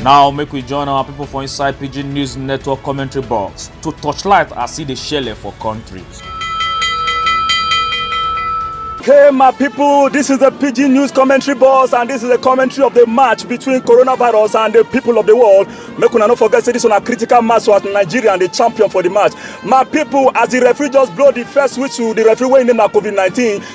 now make we join our people for inside pidgin news network commentary box to torchlight as e dey shele for country. Hey, my people, this is the PG News commentary boss, and this is the commentary of the match between coronavirus and the people of the world. Make una no forget, say this one a critical match so as Nigeria and the champion for the match. My people, as the referee just blow the first whistle, the referee wey name na COVID-19,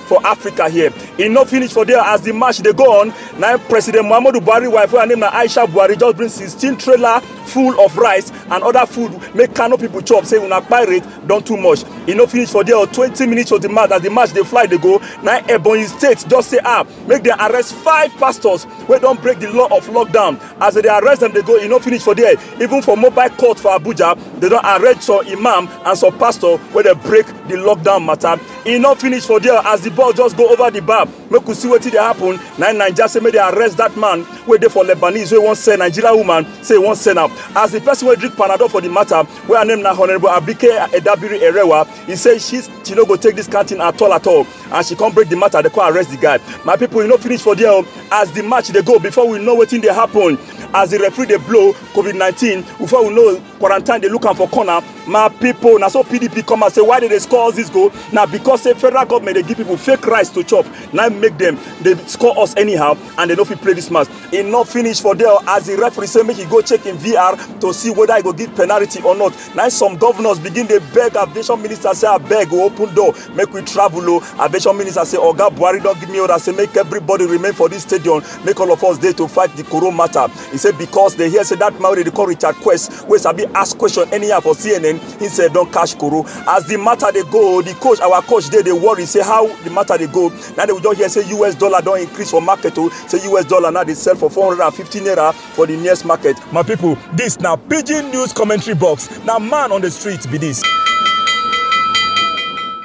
for africa here e no finish for there as di match dey go on na president muhammadu buhari wife wey her name na aisha buhari just bring sixteen trailer full of rice and other food make kano people chop say una pirate don too much e no finish for there or twenty minutes for di match as di match dey fly dey go na ebonyi state just say ah make dem arrest five pastors wey don break di law of lockdown as dem dey arrest dem dey go e no finish for there even for mobile court for abuja dem don arrest some imam and some pastor wey dey break di lockdown matter e no finish for there as the ball just go over the bar make we see wetin dey happen na naija say make they arrest that man wey dey for lebanese wey wan sell nigeria woman say he wan sell am as the person wey drink panadol for the matter wey her name na honourable abike edabiri erewa he say she she no go take this kind thing at all at all and she come break the matter they come arrest the guy my people e no finish for there o as the match dey go before we know wetin dey happen as the referee dey blow covid nineteen before we know quarantine dey look am for corner my pipo na so pdp come out say why dey dey score all dis goal na because say federal government dey give pipo fake rice to chop na make dem dey score us anyhow and dem no fit play dis match e no finish for there as di referee say make e go check im vr to see whether e go give penalty or not na some governors begin dey beg aviation minister say abeg o open door make we travel o aviation minister say oga buhari don give me order say make everybody remain for dis stadium make all of us dey to fight di corona matter He said because they hear say that man wey dey call Richard Quest wey sabi ask question anyhow for CNN, he said don cash koro. As the matter dey go, the coach, our coach dey dey worry say how the matter dey go. Now they will just hear say US dollar don increase for market o. Say US dollar now dey sell for 450 naira for the nearest market. My people, this na pidgin news commentary box. Na man on the street be this.